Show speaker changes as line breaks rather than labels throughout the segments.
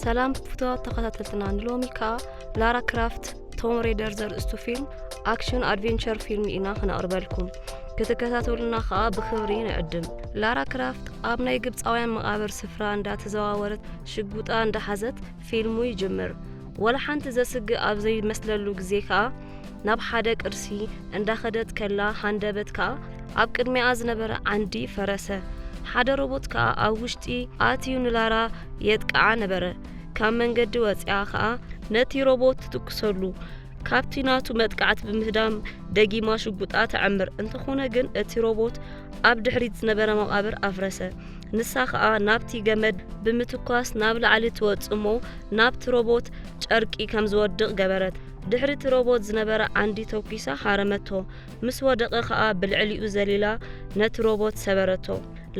ሰላም ፍትዋት ተኸታተልትና ንሎሚ ከዓ ላራ ክራፍት ቶም ሬደር ዘርእስቱ ፊልም ኣክሽን ኣድቬንቸር ፊልም ኢና ክነቕርበልኩም ክትከታተሉና ከዓ ብክብሪ ንዕድም ላራ ክራፍት ኣብ ናይ ግብፃውያን መቓብር ስፍራ እንዳተዘዋወረት ሽጉጣ እንዳሓዘት ፊልሙ ይጅምር ወላ ሓንቲ ዘስግእ ኣብ ዘይመስለሉ ግዜ ከዓ ናብ ሓደ ቅርሲ እንዳኸደት ከላ ሃንደበት ከኣ ኣብ ቅድሚኣ ዝነበረ ዓንዲ ፈረሰ። ሓደ ሮቦት ከኣ ኣብ ውሽጢ ኣትዩ ንላራ የጥቅዓ ነበረ። ካብ መንገዲ ወጺኣ ከኣ ነቲ ሮቦት ትትኩሰሉ። ካብቲ ናቱ መጥቃዕቲ ብምህዳም ደጊማ ሽጉጣ ተዐምር። እንተኾነ ግን እቲ ሮቦት ኣብ ድሕሪት ዝነበረ መቓብር ኣፍረሰ። ንሳ ከኣ ናብቲ ገመድ ብምትኳስ ናብ ላዕሊ ትወጽእ እሞ ናብቲ ሮቦት ጨርቂ ከም ዝወድቕ ገበረት። ድሕሪ እቲ ሮቦት ዝነበረ ዓንዲ ተኲሳ ሃረመቶ፣ ምስ ወደቐ ኸኣ ብልዕሊኡ ዘሊላ ነቲ ሮቦት ሰበረቶ።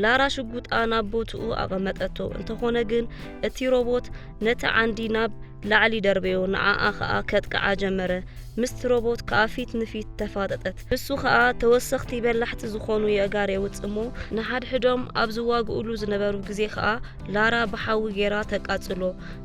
ላራ ሽጉጣ ናብ ቦትኡ ኣቐመጠቶ፣ እንተዀነ ግን እቲ ሮቦት ነቲ ዓንዲ ናብ ላዕሊ ደርበዮ፣ ንዓኣ ኸኣ ከጥቅዓ ጀመረ። ምስቲ ሮቦት ከኣ ፊት ንፊት ተፋጠጠት። ንሱ ኸኣ ተወሰኽቲ በላሕቲ ዝዀኑ የእጋር የውጽእ እሞ፣ ንሓድሕዶም ኣብ ዝዋግኡሉ ዝነበሩ ግዜ ኸኣ ላራ ብሓዊ ገይራ ተቃጽሎ፣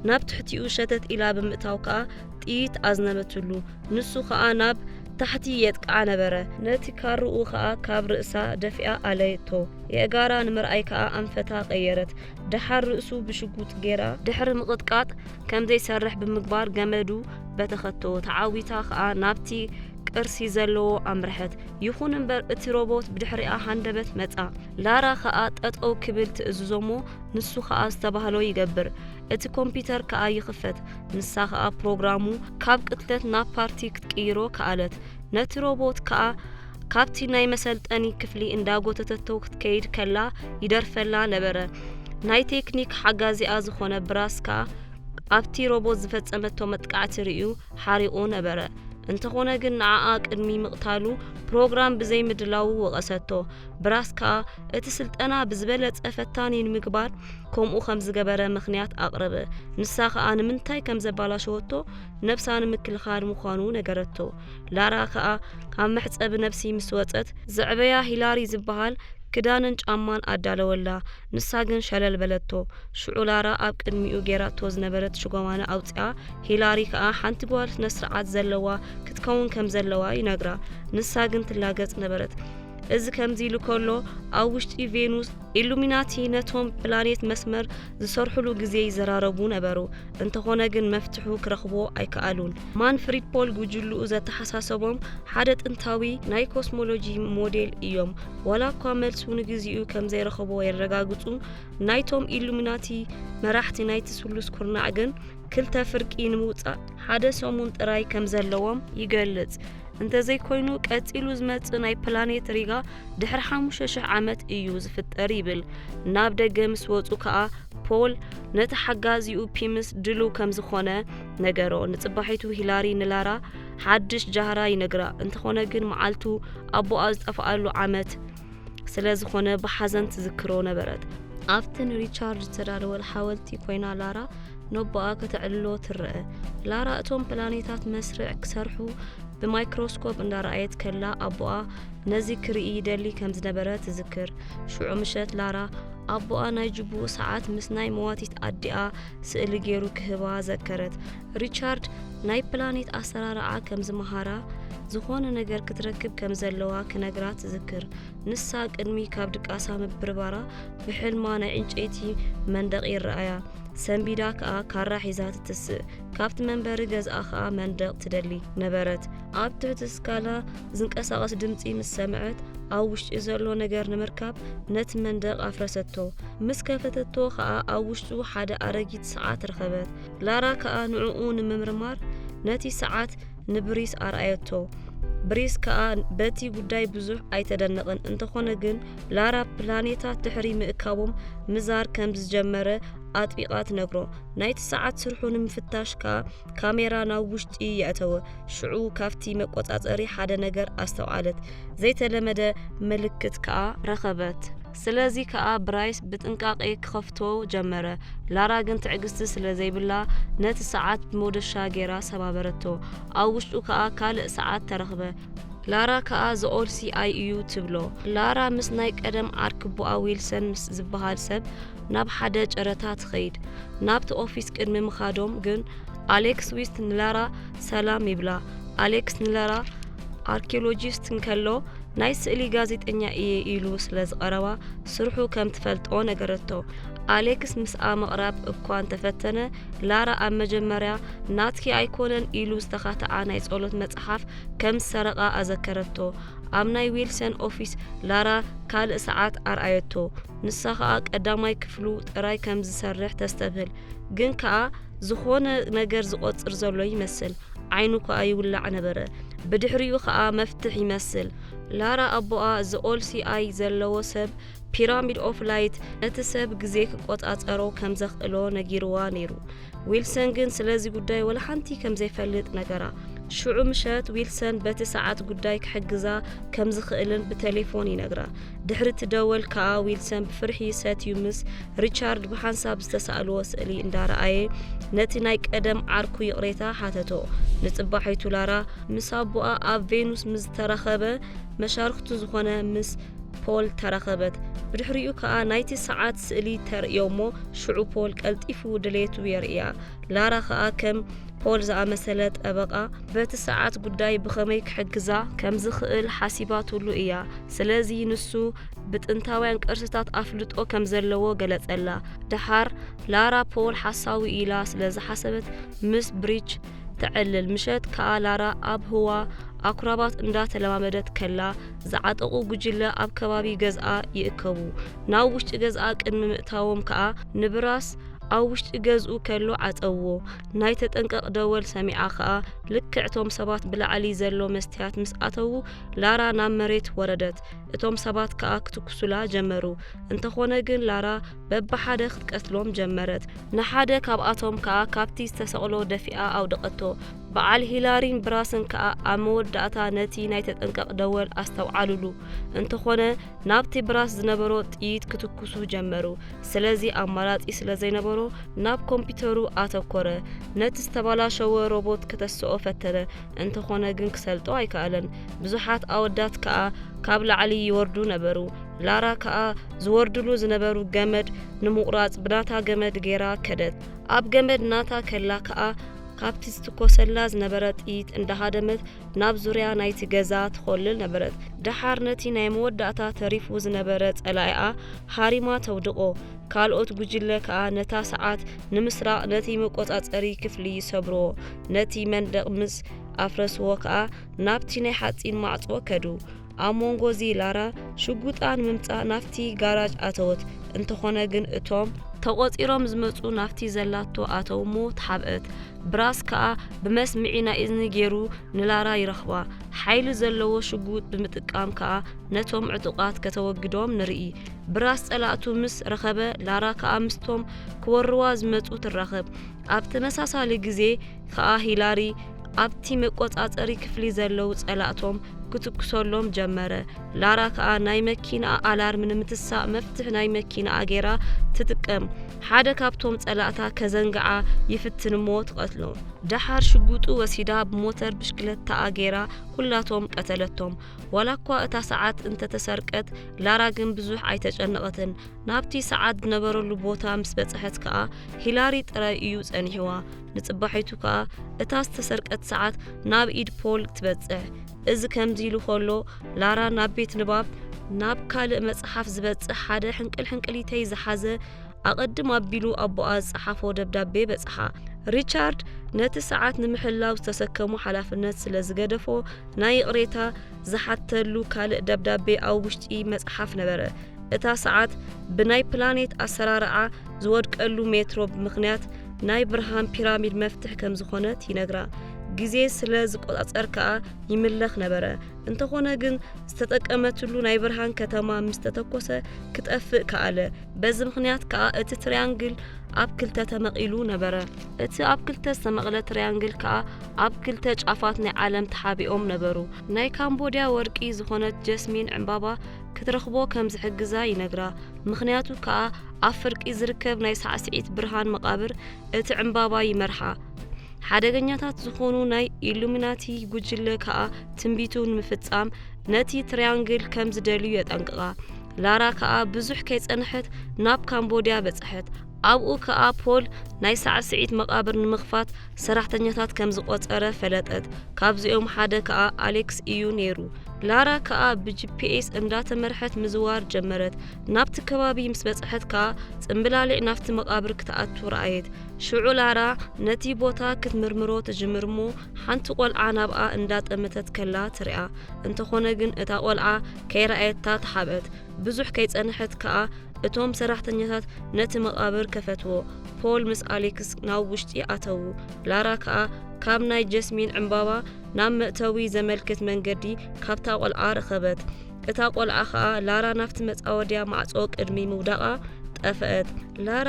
ናብ ትሕቲኡ ሸተት ኢላ ብምእታው ከኣ ጥይት ኣዝነበትሉ፣ ንሱ ኸኣ ናብ ታሕቲ የጥቅዓ ነበረ፣ ነቲ ካርኡ ኸኣ ካብ ርእሳ ደፊኣ ኣለየቶ፣ የእጋራ ንምርኣይ ከኣ ኣንፈታ ቀየረት፣ ደሓር ርእሱ ብሽጉጥ ጌራ፣ ድሕሪ ምቕጥቃጥ ከም ዘይሰርሕ ብምግባር ገመዱ በተኸቶ፣ ተዓዊታ ኸኣ ናብቲ ቅርሲ ዘለዎ ኣምርሐት፣ ይኹን እምበር እቲ ሮቦት ብድሕሪኣ ሃንደበት መጻ፣ ላራ ኸኣ ጠጠው ክብል ትእዝዞ'ሞ ንሱ ኸኣ ዝተባህሎ ይገብር፣ እቲ ኮምፒተር ከኣ ይኽፈት። ንሳ ከኣ ፕሮግራሙ ካብ ቅትለት ናብ ፓርቲ ክትቅይሮ ከኣለት። ነቲ ሮቦት ከኣ ካብቲ ናይ መሰልጠኒ ክፍሊ እንዳጎተተቶ ክትከይድ ከላ ይደርፈላ ነበረ። ናይ ቴክኒክ ሓጋዚኣ ዝኾነ ብራስ ከኣ ኣብቲ ሮቦት ዝፈጸመቶ መጥቃዕቲ ርእዩ ሓሪቑ ነበረ። እንተኾነ ግን ንዓኣ ቅድሚ ምቕታሉ ፕሮግራም ብዘይምድላዉ ወቐሰቶ። ብራስ ከኣ እቲ ስልጠና ብዝበለጸ ፈታኒ ንምግባር ከምኡ ከም ዝገበረ ምክንያት ኣቕረበ። ንሳ ከኣ ንምንታይ ከም ዘባላሸወቶ ነብሳ ንምክልኻል ምዃኑ ነገረቶ። ላራ ከኣ ካብ መሕጸቢ ነብሲ ምስ ወጸት ዘዕበያ ሂላሪ ዝበሃል ክዳንን ጫማን ኣዳለወላ። ንሳ ግን ሸለል በለቶ። ሽዑ ላራ ኣብ ቅድሚኡ ጌራቶ ዝነበረት ሽጎማና ኣውጽኣ፣ ሂላሪ ከኣ ሓንቲ ጓል ስነ ስርዓት ዘለዋ ክትከውን ከም ዘለዋ ይነግራ። ንሳ ግን ትላገጽ ነበረት። እዚ ከምዚ ኢሉ ከሎ ኣብ ውሽጢ ቬኑስ ኢሉሚናቲ ነቶም ፕላኔት መስመር ዝሰርሕሉ ግዜ ይዘራረቡ ነበሩ። እንተኾነ ግን መፍትሑ ክረኽቦ ኣይከኣሉን። ማንፍሪድ ፖል ጉጅልኡ ዘተሓሳሰቦም ሓደ ጥንታዊ ናይ ኮስሞሎጂ ሞዴል እዮም። ዋላ እኳ መልሱ ንግዚኡ ከም ዘይረኸቦ የረጋግጹ፣ ናይቶም ኢሉሚናቲ መራሕቲ ናይቲ ስሉስ ኩርናዕ ግን ክልተ ፍርቂ ንምውጻእ ሓደ ሰሙን ጥራይ ከም ዘለዎም ይገልጽ። እንተዘይኮይኑ ቀጺሉ ዝመጽእ ናይ ፕላኔት ሪጋ ድሕሪ ሓሙሽተ ሽሕ ዓመት እዩ ዝፍጠር ይብል። ናብ ደገ ምስ ወጹ ከኣ ፖል ነቲ ሓጋዚኡ ፒምስ ድልው ከም ዝኾነ ነገሮ። ንጽባሒቱ ሂላሪ ንላራ ሓድሽ ጃህራ ይነግራ። እንተኾነ ግን መዓልቱ ኣቦኣ ዝጠፍኣሉ ዓመት ስለ ዝኾነ ብሓዘን ትዝክሮ ነበረት። ኣብቲ ንሪቻርድ ዝተዳለወ ሓወልቲ ኮይና ላራ ነቦኣ ከተዕልሎ ትረአ። ላራ እቶም ፕላኔታት መስርዕ ክሰርሑ ብማይክሮስኮፕ እንዳረኣየት ከላ ኣቦኣ ነዚ ክርኢ ይደሊ ከም ዝነበረ ትዝክር። ሽዑ ምሸት ላራ ኣቦኣ ናይ ጅቡኡ ሰዓት ምስ ናይ መዋቲት ኣዲኣ ስእሊ ገይሩ ክህባ ዘከረት። ሪቻርድ ናይ ፕላኔት ኣሰራርዓ ከም ዝመሃራ ዝኾነ ነገር ክትረክብ ከም ዘለዋ ክነግራ ትዝክር። ንሳ ቅድሚ ካብ ድቃሳ ምብርባራ ብሕልማ ናይ ዕንጨይቲ መንደቕ ይረኣያ። ሰንቢዳ ከኣ ካራ ሒዛ ትትስእ። ካብቲ መንበሪ ገዝኣ ከኣ መንደቕ ትደሊ ነበረት። ኣብ ትሕቲ ስካላ ዝንቀሳቐስ ድምጺ ምስ ሰምዐት ኣብ ውሽጢ ዘሎ ነገር ንምርካብ ነቲ መንደቕ ኣፍረሰቶ። ምስ ከፈተቶ ከኣ ኣብ ውሽጡ ሓደ ኣረጊት ሰዓት ረኸበት። ላራ ከኣ ንዕኡ ንምምርማር ነቲ ሰዓት ንብሪስ ኣርኣየቶ። ብሪስ ከኣ በቲ ጉዳይ ብዙሕ ኣይተደነቐን፣ እንተኾነ ግን ላራ ፕላኔታት ድሕሪ ምእካቦም ምዛር ከም ዝጀመረ ኣጥቢቓ ትነግሮ። ናይቲ ሰዓት ስርሑ ንምፍታሽ ከኣ ካሜራ ናብ ውሽጢ የእተወ። ሽዑ ካብቲ መቆጻጸሪ ሓደ ነገር ኣስተውዓለት፣ ዘይተለመደ ምልክት ከኣ ረኸበት። ስለዚ ከኣ ብራይስ ብጥንቃቄ ክኸፍቶ ጀመረ፣ ላራ ግን ትዕግስቲ ስለ ዘይብላ ነቲ ሰዓት ብመዶሻ ጌራ ሰባበረቶ፣ ኣብ ውሽጡ ከኣ ካልእ ሰዓት ተረኽበ፣ ላራ ከኣ the old CI ኢዩ ትብሎ፣ ላራ ምስ ናይ ቀደም ዓርክቦኣ ዊልሰን ምስ ዝበሃል ሰብ ናብ ሓደ ጨረታ ትኸይድ፣ ናብቲ ኦፊስ ቅድሚ ምኻዶም ግን ኣሌክስ ዊስት ንላራ ሰላም ይብላ፣ ኣሌክስ ንላራ። ኣርኪዮሎጂስት እንከሎ ናይ ስእሊ ጋዜጠኛ እየ ኢሉ ስለ ዝቐረባ ስርሑ ከም ትፈልጦ ነገረቶ ኣሌክስ ምስኣ ምቕራብ እኳ እንተፈተነ ላራ ኣብ መጀመርያ ናትኪ ኣይኮነን ኢሉ ዝተኻተኣ ናይ ጸሎት መጽሓፍ ከም ዝሰረቓ ኣዘከረቶ ኣብ ናይ ዊልሰን ኦፊስ ላራ ካልእ ሰዓት ኣርኣየቶ ንሳ ኸኣ ቀዳማይ ክፍሉ ጥራይ ከም ዝሰርሕ ተስተብህል ግን ከኣ ዝኾነ ነገር ዝቆጽር ዘሎ ይመስል ዓይኑ ከኣ ይውላዕ ነበረ ብድሕሪኡ ከኣ መፍትሕ ይመስል ላራ ኣቦኣ ዝኦልሲ ኣይ ዘለዎ ሰብ ፒራሚድ ኦፍ ላይት እቲ ሰብ ግዜ ክቆጻጸሮ ከም ዘኽእሎ ነጊርዋ ነይሩ ዊልሰን ግን ስለዚ ጉዳይ ወላ ሓንቲ ከም ዘይፈልጥ ነገራ ሽዑ ምሸት ዊልሰን በቲ ሰዓት ጉዳይ ክሕግዛ ከም ዝኽእልን ብቴሌፎን ይነግራ ድሕሪ እቲ ደወል ከኣ ዊልሰን ብፍርሒ ሰትዩ ምስ ሪቻርድ ብሓንሳብ ዝተሳእልዎ ስእሊ እንዳረኣየ ነቲ ናይ ቀደም ዓርኩ ይቕሬታ ሓተቶ። ንጽባሒቱ ላራ ምስ ኣቦኣ ኣብ ቬኑስ ምስ ዝተራኸበ መሻርክቱ ዝኾነ ምስ ፖል ተራኸበት ብድሕሪኡ ከኣ ናይቲ ሰዓት ስእሊ ተርእዮ እሞ ሽዑ ፖል ቀልጢፉ ድሌቱ የርእያ ላራ ከኣ ከም ፖል ዝኣመሰለ ጠበቓ፣ በቲ ሰዓት ጉዳይ ብኸመይ ክሕግዛ ከም ዝኽእል ሓሲባትሉ እያ፣ ስለዚ ንሱ ብጥንታውያን ቅርስታት ኣፍልጦ ከም ዘለዎ ገለጸላ። ደሓር ላራ ፖል ሓሳዊ ኢላ ስለ ዝሓሰበት ምስ ብሪች ተዕልል፣ ምሸት ከኣ ላራ ኣብ ህዋ ኣኩራባት እንዳ ተለማመደት ከላ ዝዓጠቑ ጉጅለ ኣብ ከባቢ ገዝኣ ይእከቡ። ናብ ውሽጢ ገዝኣ ቅድሚ ምእታዎም ከኣ ንብራስ ኣብ ውሽጢ ገዝኡ ከሎ ዓጸዎ። ናይ ተጠንቀቕ ደወል ሰሚዓ ከኣ ልክዕ እቶም ሰባት ብላዕሊ ዘሎ መስትያት ምስ ኣተዉ ላራ ናብ መሬት ወረደት። እቶም ሰባት ከኣ ክትኩሱላ ጀመሩ። እንተኾነ ግን ላራ በብሓደ ክትቀትሎም ጀመረት። ንሓደ ካብኣቶም ከኣ ካብቲ ዝተሰቕሎ ደፊኣ ኣውደቐቶ። በዓል ሂላሪን ብራስን ከኣ ኣብ መወዳእታ ነቲ ናይ ተጠንቀቕ ደወል ኣስተውዓሉሉ። እንተኾነ ናብቲ ብራስ ዝነበሮ ጥይት ክትኩሱ ጀመሩ። ስለዚ ኣማራጺ ስለ ዘይነበሮ ናብ ኮምፒተሩ ኣተኮረ። ነቲ ዝተባላሸወ ሮቦት ከተስኦ ፈተነ፣ እንተኾነ ግን ክሰልጦ ኣይከኣለን። ብዙሓት ኣወዳት ከኣ ካብ ላዕሊ ይወርዱ ነበሩ። ላራ ከኣ ዝወርድሉ ዝነበሩ ገመድ ንምቑራጽ ብናታ ገመድ ገይራ ከደት። ኣብ ገመድ ናታ ከላ ከኣ ካብቲ ዝትኮሰላ ዝነበረ ጥይት እንዳሃደመት ናብ ዙርያ ናይቲ ገዛ ትዀልል ነበረት። ደሓር ነቲ ናይ መወዳእታ ተሪፉ ዝነበረ ጸላኢኣ ሃሪማ ተውድቖ፣ ካልኦት ጕጅለ ከኣ ነታ ሰዓት ንምስራቕ ነቲ መቈጻጸሪ ክፍሊ ይሰብርዎ። ነቲ መንደቕ ምስ ኣፍረስዎ ከኣ ናብቲ ናይ ሓጺን ማዕጾ ከዱ። ኣብ መንጎ እዚ ላራ ሽጉጣ ንምምጻእ ናብቲ ጋራጅ ኣተወት፣ እንተኾነ ግን እቶም። ተቖጺሮም ዝመጹ ናብቲ ዘላቶ ኣተው እሞ ተሓብአት፣ ብራስ ከኣ ብመስምዒ ናይ እዝኒ ጌሩ ንላራ ይረኽባ፣ ሓይሊ ዘለዎ ሽጉጥ ብምጥቃም ከኣ ነቶም ዕጡቓት ከተወግዶም ንርኢ፣ ብራስ ጸላእቱ ምስ ረኸበ ላራ ከኣ ምስቶም ክወርዋ ዝመጹ ትራኸብ፣ ኣብ ተመሳሳሊ ግዜ። ከኣ ሂላሪ ኣብቲ መቆጻጸሪ ክፍሊ ዘለዉ ጸላእቶም ክትኩሰሎም ጀመረ። ላራ ከኣ ናይ መኪናኣ ኣላርም ንምትሳእ መፍትሕ ናይ መኪናኣ ጌራ ትጥቀም። ሓደ ካብቶም ጸላእታ ከዘንግዓ ይፍትን እሞ ትቐትሎ። ደሓር ሽጉጡ ወሲዳ ብሞተር ብሽክለታኣ ጌራ ኩላቶም ቀተለቶም። ዋላኳ እታ ሰዓት እንተተሰርቀት ላራ ግን ብዙሕ ኣይተጨነቐትን። ናብቲ ሰዓት ዝነበረሉ ቦታ ምስ በጽሐት ከኣ ሂላሪ ጥራይ እዩ ጸኒሕዋ። ንጽባሒቱ ከኣ እታ ዝተሰርቀት ሰዓት ናብ ኢድ ፖል ትበጽሕ እዚ ከምዚ ኢሉ ከሎ ላራ ናብ ቤት ንባብ ናብ ካልእ መጽሓፍ ዝበጽሕ ሓደ ሕንቅል ሕንቅሊተይ ዝሓዘ ኣቐድም ኣቢሉ ኣቦኣ ዝጸሓፎ ደብዳቤ በጽሓ ሪቻርድ ነቲ ሰዓት ንምሕላው ዝተሰከሙ ሓላፍነት ስለ ዝገደፎ ናይ ይቕሬታ ዝሓተሉ ካልእ ደብዳቤ ኣብ ውሽጢ መጽሓፍ ነበረ። እታ ሰዓት ብናይ ፕላኔት ኣሰራርዓ ዝወድቀሉ ሜትሮ ምኽንያት ናይ ብርሃን ፒራሚድ መፍትሕ ከም ዝኾነት ይነግራ። ግዜ ስለ ዝቆጻጸር ከኣ ይምለኽ ነበረ። እንተኾነ ግን ዝተጠቀመትሉ ናይ ብርሃን ከተማ ምስ ተተኮሰ ክጠፍእ ከኣለ። በዚ ምኽንያት ከኣ እቲ ትሪያንግል ኣብ ክልተ ተመቒሉ ነበረ። እቲ ኣብ ክልተ ዝተመቕለ ትሪያንግል ከኣ ኣብ ክልተ ጫፋት ናይ ዓለም ተሓቢኦም ነበሩ። ናይ ካምቦድያ ወርቂ ዝኾነት ጀስሚን ዕምባባ ክትረኽቦ ከም ዝሕግዛ ይነግራ፣ ምኽንያቱ ከኣ ኣብ ፍርቂ ዝርከብ ናይ ሳዕስዒት ብርሃን መቓብር እቲ ዕምባባ ይመርሓ። ሓደገኛታት ዝኾኑ ናይ ኢሉሚናቲ ጉጅለ ከኣ ትንቢቱ ንምፍጻም ነቲ ትርያንግል ከም ዝደልዩ የጠንቅቓ። ላራ ከኣ ብዙሕ ከይጸንሐት ናብ ካምቦድያ በጽሐት፣ ኣብኡ ከኣ ፖል ናይ ሳዕስዒት መቓብር ንምኽፋት ሰራሕተኛታት ከም ዝቖጸረ ፈለጠት፣ ካብዚኦም ሓደ ከኣ ኣሌክስ እዩ ነይሩ። ላራ ከኣ ብጂፒኤስ እንዳተመርሐት ምዝዋር ጀመረት። ናብቲ ከባቢ ምስ በጽሐት ከኣ ጽምብላሊዕ ናብቲ መቓብር ክትኣቱ ረኣየት። ሽዑ ላራ ነቲ ቦታ ክትምርምሮ ትጅምር እሞ ሓንቲ ቆልዓ ናብኣ እንዳጠመተት ከላ ትርኣ። እንተኾነ ግን እታ ቆልዓ ከይረኣየታ ተሓብአት። ብዙሕ ከይጸንሐት ከኣ እቶም ሰራሕተኛታት ነቲ መቓብር ከፈትዎ። ፖል ምስ ኣሌክስ ናብ ውሽጢ ኣተዉ። ላራ ከኣ ካብ ናይ ጀስሚን ዕምባባ ናብ መእተዊ ዘመልክት መንገዲ ካብታ ቈልዓ ረኸበት። እታ ቈልዓ ኸኣ ላራ ናብቲ መጻወድያ ማዕጾ ቅድሚ ምውዳቓ ጠፍአት። ላራ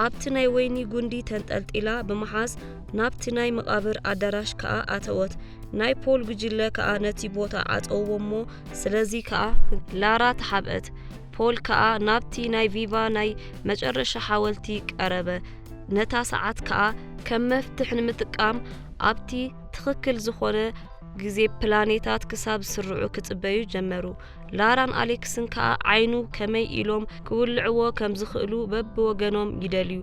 ኣብቲ ናይ ወይኒ ጕንዲ ተንጠልጢላ ብምሓዝ ናብቲ ናይ መቓብር ኣዳራሽ ከኣ ኣተወት። ናይ ፖል ጕጅለ ከኣ ነቲ ቦታ ዓጸውዎ እሞ ስለዚ ከኣ ላራ ተሓብአት፣ ፖል ከኣ ናብቲ ናይ ቪቫ ናይ መጨረሻ ሓወልቲ ቀረበ፣ ነታ ሰዓት ከኣ ከም መፍትሕ ንምጥቃም ኣብቲ ትኽክል ዝኾነ ግዜ ፕላኔታት ክሳብ ዝስርዑ ክጽበዩ ጀመሩ። ላራን ኣሌክስን ከኣ ዓይኑ ከመይ ኢሎም ክውልዕዎ ከም ዝኽእሉ በብወገኖም ይደልዩ።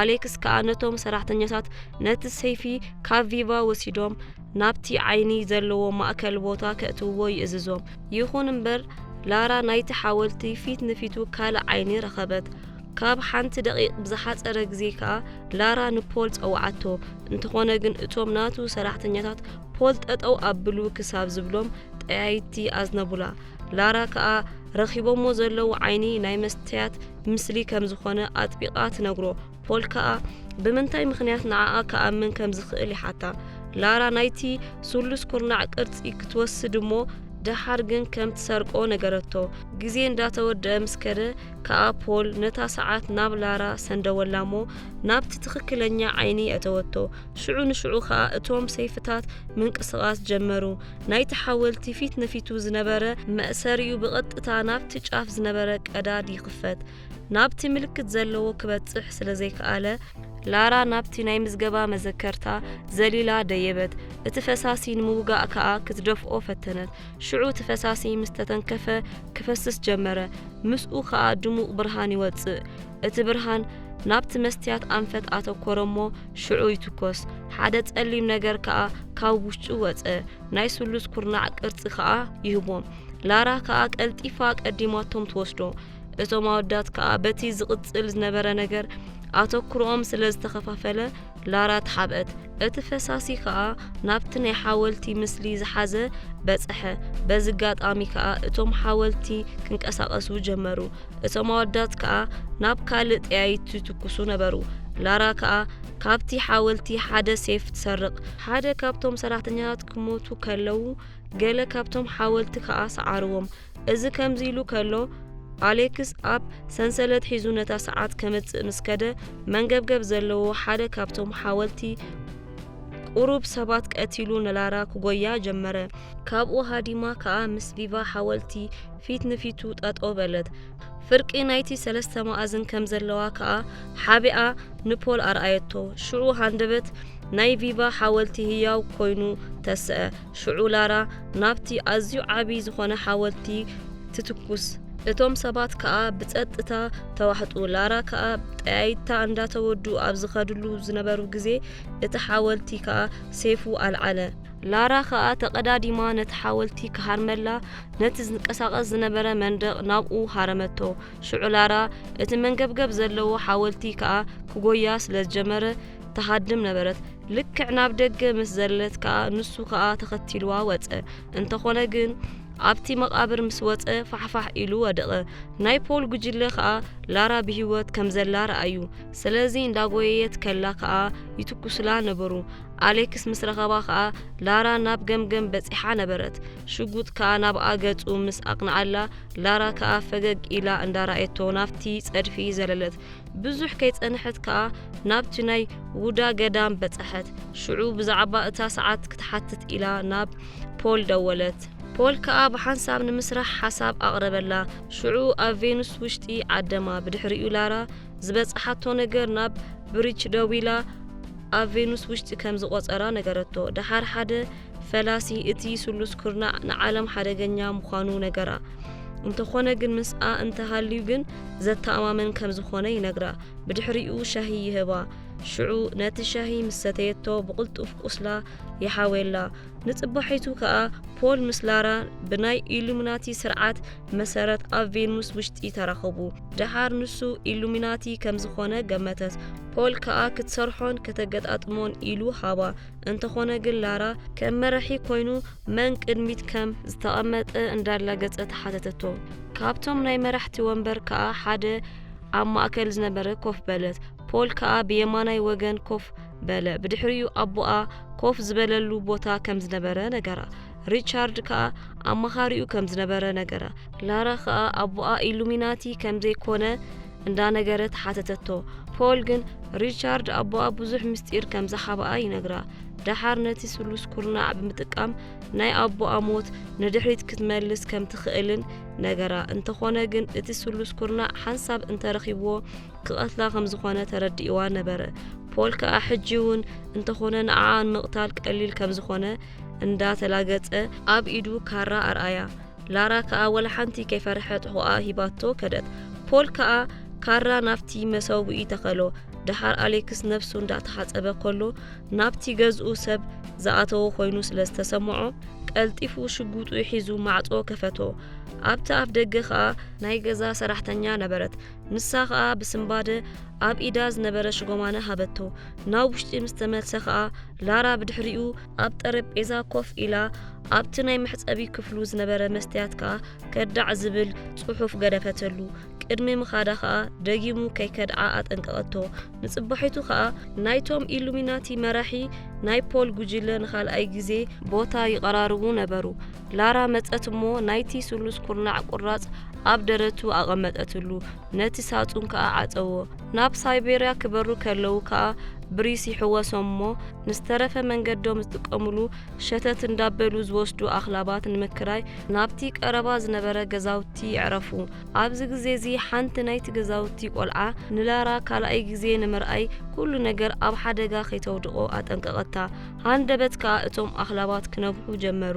ኣሌክስ ከኣ ነቶም ሰራሕተኛታት ነቲ ሰይፊ ካብ ቪቫ ወሲዶም ናብቲ ዓይኒ ዘለዎ ማእከል ቦታ ከእትውዎ ይእዝዞም። ይኹን እምበር፣ ላራ ናይቲ ሓወልቲ ፊት ንፊቱ ካልእ ዓይኒ ረኸበት። ካብ ሓንቲ ደቒቕ ብዝሓጸረ ግዜ ከኣ ላራ ንፖል ጸውዓቶ። እንተኾነ ግን እቶም ናቱ ሰራሕተኛታት ፖል ጠጠው ኣብሉ ክሳብ ዝብሎም ጠያይቲ ኣዝነቡላ። ላራ ከኣ ረኺቦሞ ዘለዉ ዓይኒ ናይ መስትያት ምስሊ ከም ዝኾነ ኣጥቢቓ ትነግሮ። ፖል ከኣ ብምንታይ ምኽንያት ንዓኣ ክኣምን ከም ዝኽእል ይሓታ። ላራ ናይቲ ስሉስ ኩርናዕ ቅርጺ ክትወስድ እሞ ደሓር ግን ከም ትሰርቆ ነገረቶ። ግዜ እንዳተወድአ ምስ ከደ ከኣ ፖል ነታ ሰዓት ናብ ላራ ሰንደወላ እሞ ናብቲ ትኽክለኛ ዓይኒ ኣተወቶ። ሽዑ ንሽዑ ከኣ እቶም ሰይፍታት ምንቅስቓስ ጀመሩ። ናይቲ ሓወልቲ ፊት ንፊቱ ዝነበረ መእሰሪኡ ብቐጥታ ናብቲ ጫፍ ዝነበረ ቀዳድ ይኽፈት። ናብቲ ምልክት ዘለዎ ክበጽሕ ስለ ዘይከኣለ፣ ላራ ናብቲ ናይ ምዝገባ መዘከርታ ዘሊላ ደየበት። እቲ ፈሳሲ ንምውጋእ ከኣ ክትደፍኦ ፈተነት። ሽዑ እቲ ፈሳሲ ምስ ተተንከፈ ክፈስስ ጀመረ፣ ምስኡ ከኣ ድሙቕ ብርሃን ይወጽእ። እቲ ብርሃን ናብቲ መስትያት ኣንፈት ኣተኮረ እሞ ሽዑ ይትኮስ። ሓደ ጸሊም ነገር ከኣ ካብ ውሽጡ ወጸ፣ ናይ ስሉስ ኩርናዕ ቅርጺ ከኣ ይህቦም። ላራ ከኣ ቀልጢፋ ቀዲማቶም ትወስዶ። እቶም ኣወዳት ከኣ በቲ ዝቕጽል ዝነበረ ነገር ኣተኩሮኦም ስለ ዝተኸፋፈለ ላራ ተሓብአት እቲ ፈሳሲ ከኣ ናብቲ ናይ ሓወልቲ ምስሊ ዝሓዘ በጽሐ በዚ ኣጋጣሚ ከኣ እቶም ሓወልቲ ክንቀሳቐሱ ጀመሩ እቶም ኣወዳት ከኣ ናብ ካልእ ጠያይቲ ትኩሱ ነበሩ ላራ ከኣ ካብቲ ሓወልቲ ሓደ ሴፍ ትሰርቕ ሓደ ካብቶም ሰራሕተኛታት ክሞቱ ከለዉ ገለ ካብቶም ሓወልቲ ከኣ ሰዓርዎም እዚ ከምዚሉ ከሎ ኣሌክስ ኣብ ሰንሰለት ሒዙ ነታ ሰዓት ከመጽእ ምስ ከደ መንገብገብ ዘለዎ ሓደ ካብቶም ሓወልቲ ቁሩብ ሰባት ቀቲሉ ንላራ ክጎያ ጀመረ። ካብኡ ሃዲማ ከኣ ምስ ቪቫ ሓወልቲ ፊት ንፊቱ ጠጠው በለት። ፍርቂ ናይቲ ሰለስተ መኣዝን ከም ዘለዋ ከኣ ሓቢኣ ንፖል ኣርኣየቶ። ሽዑ ሃንደበት ናይ ቪቫ ሓወልቲ ህያው ኮይኑ ተስዐ። ሽዑ ላራ ናብቲ ኣዝዩ ዓቢ ዝዀነ ሓወልቲ ትትኩስ። እቶም ሰባት ከኣ ብጸጥታ ተዋሕጡ። ላራ ከኣ ጠያይታ እንዳተወዱ ኣብ ዝኸድሉ ዝነበሩ ግዜ እቲ ሓወልቲ ከኣ ሴፉ ኣልዓለ። ላራ ከኣ ተቐዳዲማ ነቲ ሓወልቲ ክሃርመላ ነቲ ዝንቀሳቐስ ዝነበረ መንደቕ ናብኡ ሃረመቶ። ሽዑ ላራ እቲ መንገብገብ ዘለዎ ሓወልቲ ከኣ ክጎያ ስለ ዝጀመረ ትሃድም ነበረት ልክዕ ናብ ደገ ምስ ዘለለት ከኣ ንሱ ከኣ ተኸቲልዋ ወጸ እንተኾነ ግን ኣብቲ መቓብር ምስ ወጸ ፋሕፋሕ ኢሉ ወደቐ ናይ ፖል ጉጅለ ከኣ ላራ ብህይወት ከም ዘላ ረኣዩ ስለዚ እንዳጎየየት ከላ ከኣ ይትኩስላ ነበሩ ኣሌክስ ምስ ረኸባ ከኣ ላራ ናብ ገምገም በጺሓ ነበረት ሽጉጥ ከኣ ናብ ኣገጹ ምስ ኣቕንዓላ ላራ ከኣ ፈገግ ኢላ እንዳረኣየቶ ናብቲ ጸድፊ ዘለለት ብዙሕ ከይጸንሐት ከኣ ናብቲ ናይ ውዳ ገዳም በጸሐት። ሽዑ ብዛዕባ እታ ሰዓት ክትሓትት ኢላ ናብ ፖል ደወለት። ፖል ከኣ ብሓንሳብ ንምስራሕ ሓሳብ ኣቕረበላ። ሽዑ ኣብ ቬኑስ ውሽጢ ዓደማ ብድሕሪኡ ላራ ዝበጽሓቶ ነገር ናብ ብሪች ደዊላ ኣብ ቬኑስ ውሽጢ ከም ዝቖጸራ ነገረቶ። ደሓር ሓደ ፈላሲ እቲ ስሉስ ኩርናዕ ንዓለም ሓደገኛ ምዃኑ ነገራ። እንተኾነ ግን ምስኣ እንተሃልዩ ግን ዘተኣማመን ከም ዝኾነ ይነግራ። ብድሕሪኡ ሻሂ ይህባ። ሽዑ ነቲ ሻሂ ምስ ሰተየቶ ብቕልጡፍ ቁስላ ይሓውየላ። ንጽባሒቱ ከኣ ፖል ምስ ላራ ብናይ ኢሉሚናቲ ስርዓት መሰረት ኣብ ቬኑስ ውሽጢ ተራኸቡ። ደሓር ንሱ ኢሉሚናቲ ከም ዝኾነ ገመተት። ፖል ከኣ ክትሰርሖን ከተገጣጥሞን ኢሉ ሃባ። እንተኾነ ግን ላራ ከም መራሒ ኮይኑ መን ቅድሚት ከም ዝተቐመጠ እንዳላገጸ ተሓተተቶ ካብቶም ናይ መራሕቲ ወንበር ከኣ ሓደ ኣብ ማእከል ዝነበረ ኮፍ በለት ፖል ከኣ ብየማናይ ወገን ኮፍ በለ ብድሕሪኡ ኣቦኣ ኮፍ ዝበለሉ ቦታ ከም ዝነበረ ነገራ ሪቻርድ ከኣ ኣማኻሪኡ ከም ዝነበረ ነገራ ላራ ከኣ ኣቦኣ ኢሉሚናቲ ከም ዘይኮነ እንዳነገረ ተሓተተቶ ፖል ግን ሪቻርድ ኣቦኣ ብዙሕ ምስጢር ከም ዝሓበኣ ይነግራ ደሓር ነቲ ስሉስ ኩርናዕ ብምጥቃም ናይ ኣቦኣ ሞት ንድሕሪት ክትመልስ ከም ትኽእልን ነገራ እንተኾነ ግን እቲ ስሉስ ኩርናዕ ሓንሳብ እንተረኺብዎ ክቐትላ ከም ዝኾነ ተረዲእዋ ነበረ ፖል ከዓ ሕጂ እውን እንተኾነ ንዓኣ ንምቕታል ቀሊል ከም ዝኾነ እንዳተላገጸ ኣብ ኢዱ ካራ ኣርኣያ ላራ ከኣ ወላ ሓንቲ ከይፈርሐት ሆኣ ሂባቶ ከደት። ፖል ከኣ ካራ ናብቲ መሰውኢ ተኸሎ። ደሓር ኣሌክስ ነብሱ እንዳተሓጸበ ከሎ ናብቲ ገዝኡ ሰብ ዝኣተዎ ኮይኑ ስለ ዝተሰምዖ ቀልጢፉ ሽጉጡ ሒዙ ማዕጾ ከፈቶ። ኣብቲ ኣፍ ደገ ከኣ ናይ ገዛ ሰራሕተኛ ነበረት። ንሳ ከኣ ብስምባደ ኣብ ኢዳ ዝነበረ ሽጎማነ ሃበቶ። ናብ ውሽጢ ምስ ተመልሰ ከኣ ላራ ብድሕሪኡ ኣብ ጠረጴዛ ኮፍ ኢላ ኣብቲ ናይ መሕጸቢ ክፍሉ ዝነበረ መስትያት ከኣ ከዳዕ ዝብል ጽሑፍ ገደፈተሉ። ቅድሚ ምኻዳ ከኣ ደጊሙ ከይከድዓ ኣጠንቀቐቶ። ንጽባሒቱ ከኣ ናይቶም ኢሉሚናቲ መራሒ ናይ ፖል ጉጅለ ንኻልኣይ ግዜ ቦታ ይቐራርቡ ነበሩ። ላራ መጸት እሞ ናይቲ ስሉስ ኩርናዕ ቁራጽ ኣብ ደረቱ ኣቐመጠትሉ። ነቲ ሳጹን ከኣ ዓጸዎ። ናብ ሳይቤርያ ክበሩ ከለዉ ከኣ ብሪስ ይሕወሶም እሞ ንዝተረፈ መንገዶም ዝጥቀሙሉ ሸተት እንዳበሉ ዝወስዱ ኣኽላባት ንምክራይ ናብቲ ቀረባ ዝነበረ ገዛውቲ የዕረፉ። ኣብዚ ግዜ'ዚ ሓንቲ ናይቲ ገዛውቲ ቆልዓ ንላራ ካልኣይ ግዜ ንምርኣይ ኩሉ ነገር ኣብ ሓደጋ ከይተውድቖ ኣጠንቀቐታ። ሃንደበት ከኣ እቶም ኣኽላባት ክነብሑ ጀመሩ።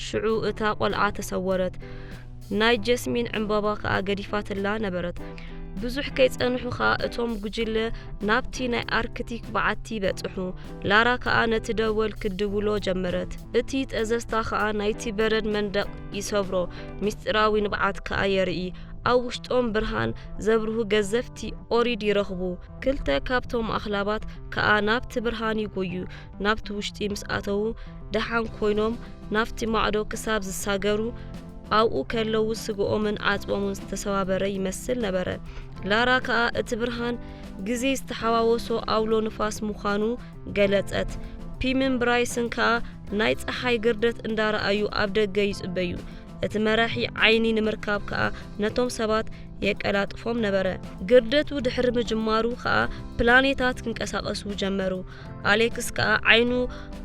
ሽዑ እታ ቆልዓ ተሰወረት። ናይ ጀስሚን ዕምባባ ከኣ ገዲፋትላ ነበረት። ብዙሕ ከይጸንሑ ከኣ እቶም ጉጅለ ናብቲ ናይ ኣርክቲክ በዓቲ በጽሑ። ላራ ከኣ ነቲ ደወል ክትድውሎ ጀመረት። እቲ ጠዘዝታ ከኣ ናይቲ በረድ መንደቕ ይሰብሮ፣ ምስጢራዊ ንብዓት ከኣ የርኢ። ኣብ ውሽጦም ብርሃን ዘብርሁ ገዘፍቲ ኦሪድ ይረኽቡ። ክልተ ካብቶም ኣኽላባት ከኣ ናብቲ ብርሃን ይጎዩ። ናብቲ ውሽጢ ምስ ኣተዉ ደሓን ኮይኖም ናብቲ ማዕዶ ክሳብ ዝሳገሩ ኣብኡ ከለዉ ስግኦምን ዓጽቦምን ዝተሰባበረ ይመስል ነበረ። ላራ ከኣ እቲ ብርሃን ግዜ ዝተሓዋወሶ ኣውሎ ንፋስ ምዃኑ ገለጸት። ፒምን ብራይስን ከኣ ናይ ጸሓይ ግርደት እንዳረኣዩ ኣብ ደገ ይጽበዩ። እቲ መራሒ ዓይኒ ንምርካብ ከኣ ነቶም ሰባት የቀላጥፎም ነበረ። ግርደቱ ድሕሪ ምጅማሩ ከኣ ፕላኔታት ክንቀሳቐሱ ጀመሩ። ኣሌክስ ከኣ ዓይኑ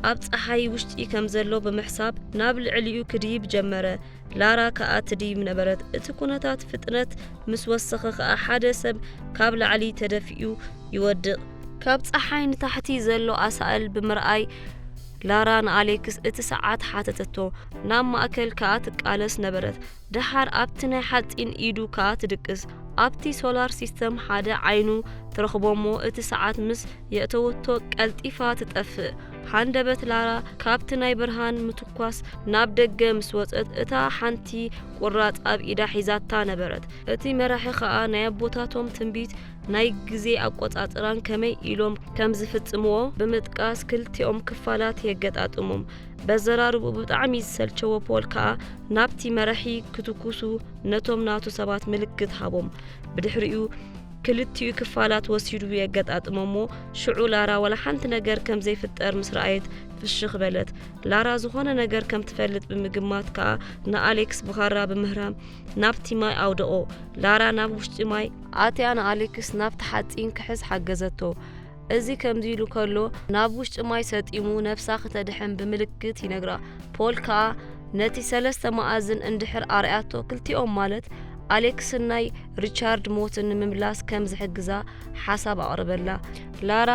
ኣብ ጸሓይ ውሽጢ ከም ዘሎ ብምሕሳብ ናብ ልዕሊኡ ክድይብ ጀመረ። ላራ ከኣ ትድይብ ነበረት። እቲ ኩነታት ፍጥነት ምስ ወሰኸ ከኣ ሓደ ሰብ ካብ ላዕሊ ተደፊኡ ይወድቕ። ካብ ጸሓይ ንታሕቲ ዘሎ ኣሳእል ብምርኣይ ላራ ንኣሌክስ እቲ ሰዓት ሓተተቶ። ናብ ማእከል ከኣ ትቃለስ ነበረት። ደሓር ኣብቲ ናይ ሓጺን ኢዱ ከኣ ትድቅስ። ኣብቲ ሶላር ሲስተም ሓደ ዓይኑ ትረኽቦ'ሞ እቲ ሰዓት ምስ የእተወቶ ቀልጢፋ ትጠፍእ። ሃንደበት ላራ ካብቲ ናይ ብርሃን ምትኳስ ናብ ደገ ምስ ወጸት እታ ሓንቲ ቁራጽ ኣብ ኢዳ ሒዛታ ነበረት። እቲ መራሒ ከኣ ናይ ኣቦታቶም ትንቢት ናይ ግዜ ኣቆጻጽራን ከመይ ኢሎም ከም ዝፍጽምዎ ብምጥቃስ ክልቲኦም ክፋላት የገጣጥሞም። በዘራርብኡ ብጣዕሚ ዝሰልቸዎ ፖል ከኣ ናብቲ መራሒ ክትኩሱ ነቶም ናቱ ሰባት ምልክት ሃቦም ብድሕሪኡ ክልቲኡ ክፋላት ወሲዱ የገጣጥሞሞ ሽዑ ላራ ወላ ሓንቲ ነገር ከም ዘይፍጠር ምስ ረኣየት ፍሽኽ በለት ላራ ዝኾነ ነገር ከም ትፈልጥ ብምግማት ከኣ ንኣሌክስ ብኻራ ብምህራም ናብቲ ማይ ኣውደቖ ላራ ናብ ውሽጢ ማይ ኣትያ ንኣሌክስ ናብቲ ሓፂን ክሕዝ ሓገዘቶ እዚ ከምዚሉ ከሎ ናብ ውሽጢ ማይ ሰጢሙ ነፍሳ ክተድሕን ብምልክት ይነግራ። ፖል ከኣ ነቲ ሰለስተ መኣዝን እንድሕር ኣርኣያቶ ክልቲኦም ማለት ኣሌክስን ናይ ሪቻርድ ሞትን ንምምላስ ከም ዝሕግዛ ሓሳብ ኣቕርበላ። ላራ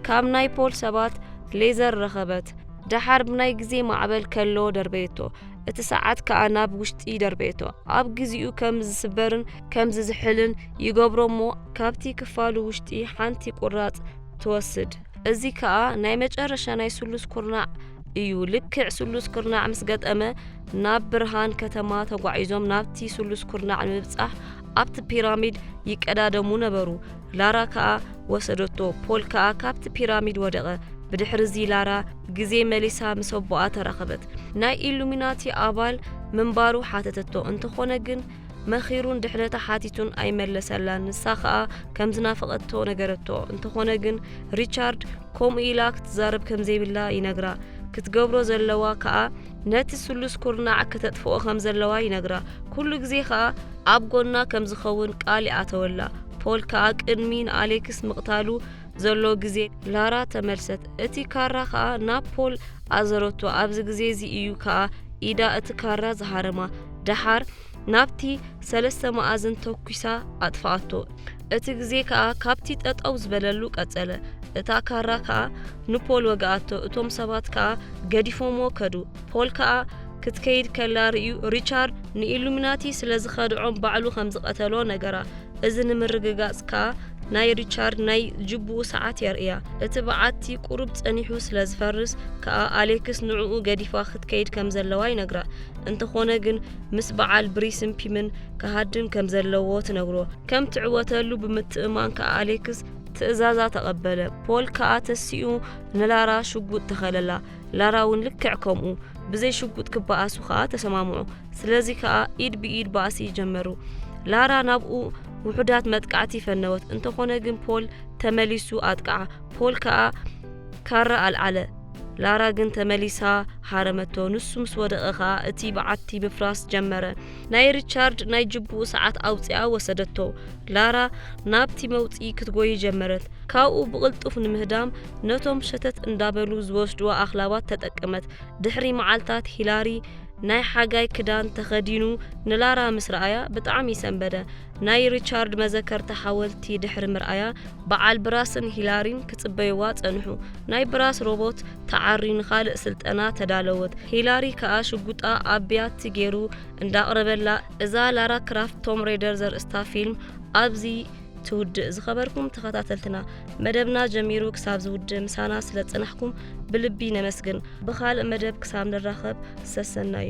ካብ ናይ ፖል ሰባት ሌዘር ረኸበት። ደሓር ብናይ ግዜ ማዕበል ከሎ ደርበየቶ። እቲ ሰዓት ከኣ ናብ ውሽጢ ደርበየቶ። ኣብ ግዚኡ ከም ዝስበርን ከምዚ ዝሕልን ይገብሮ እሞ ካብቲ ክፋሉ ውሽጢ ሓንቲ ቁራጽ ትወስድ እዚ ከዓ ናይ መጨረሻ ናይ ስሉስ ኩርናዕ እዩ ልክዕ ስሉስ ኩርናዕ ምስ ገጠመ ናብ ብርሃን ከተማ ተጓዒዞም ናብቲ ስሉስ ኩርናዕ ንምብጻሕ ኣብቲ ፒራሚድ ይቀዳደሙ ነበሩ ላራ ከዓ ወሰደቶ ፖል ከዓ ካብቲ ፒራሚድ ወደቐ ብድሕሪ እዚ ላራ ግዜ መሊሳ ምስ ኣቦኣ ተራኸበት ናይ ኢሉሚናቲ ኣባል ምንባሩ ሓተተቶ እንተኾነ ግን መኺሩን ድሕነታ ሓቲቱን ኣይመለሰላን። ንሳ ከኣ ከም ዝናፈቐቶ ነገረቶ። እንተኾነ ግን ሪቻርድ ከምኡ ኢላ ክትዛረብ ከም ዘይብላ ይነግራ። ክትገብሮ ዘለዋ ከኣ ነቲ ስሉስ ኩርናዕ ከተጥፍኦ ከም ዘለዋ ይነግራ። ኩሉ ግዜ ከኣ ኣብ ጎና ከም ዝኸውን ቃል ይኣተወላ። ፖል ከኣ ቅድሚ ንኣሌክስ ምቕታሉ ዘሎ ግዜ ላራ ተመልሰት። እቲ ካራ ከኣ ናብ ፖል ኣዘረቶ። ኣብዚ ግዜ እዚ እዩ ከኣ ኢዳ እቲ ካራ ዝሃረማ። ደሓር ናብቲ ሰለስተ መኣዝን ተኲሳ ኣጥፍኣቶ። እቲ ግዜ ከኣ ካብቲ ጠጠው ዝበለሉ ቀጸለ። እታ ካራ ከኣ ንፖል ወግኣቶ፣ እቶም ሰባት ከኣ ገዲፎምዎ ከዱ። ፖል ከኣ ክትከይድ ከላ ርእዩ ሪቻርድ ንኢሉሚናቲ ስለ ዝኸድዖም ባዕሉ ከም ዝቐተሎ ነገራ። እዚ ንምርግጋጽ ከኣ ናይ ሪቻርድ ናይ ጅቡኡ ሰዓት የርእያ። እቲ በዓቲ ቁሩብ ጸኒሑ ስለ ዝፈርስ ከኣ ኣሌክስ ንዕኡ ገዲፋ ክትከይድ ከም ዘለዋ ይነግራ። እንተኾነ ግን ምስ በዓል ብሪስን ፒምን ክሃድም ከም ዘለዎ ትነግሮ ከም ትዕወተሉ ብምትእማን ከኣ ኣሌክስ ትእዛዛ ተቐበለ ፖል ከኣ ተሲኡ ንላራ ሽጉጥ ተኸለላ ላራ እውን ልክዕ ከምኡ ብዘይ ሽጉጥ ክበኣሱ ከኣ ተሰማምዑ ስለዚ ከኣ ኢድ ብኢድ ባእሲ ጀመሩ ላራ ናብኡ ውሑዳት መጥቃዕቲ ፈነወት እንተኾነ ግን ፖል ተመሊሱ ኣጥቃዓ ፖል ከኣ ካራ ኣልዓለ፣ ላራ ግን ተመሊሳ ሃረመቶ፣ ንሱ ምስ ወደቐ ከኣ እቲ በዓቲ ምፍራስ ጀመረ። ናይ ሪቻርድ ናይ ጅቡኡ ሰዓት ኣውጺኣ ወሰደቶ፣ ላራ ናብቲ መውጽኢ ክትጎዪ ጀመረት፣ ካብኡ ብቕልጡፍ ንምህዳም ነቶም ሸተት እንዳበሉ ዝወስዱዋ ኣኽላባት ተጠቀመት። ድሕሪ መዓልታት ሂላሪ ናይ ሓጋይ ክዳን ተኸዲኑ ንላራ ምስ ረኣያ ብጣዕሚ ሰንበደ፣ ናይ ሪቻርድ መዘከርታ ሓወልቲ ድሕሪ ምርኣያ በዓል ብራስን ሂላሪን ክጽበይዋ ጸንሑ። ናይ ብራስ ሮቦት ተዓርዩ ንኻልእ ስልጠና ተዳለወት። ሂላሪ ከኣ ሽጉጣ ኣብ ብያቲ ጌሩ እንዳቕረበላ እዛ ላራ ክራፍት ቶም ሬደር ዘርእስታ ፊልም ኣብዚ ትውድእ። ዝኸበርኩም ተኸታተልትና መደብና ጀሚሩ ክሳብ ዝውድእ ምሳና ስለ ጸናሕኩም ብልቢ ነመስግን። ብኻልእ መደብ ክሳብ ንራኸብ ሰሰናዩ።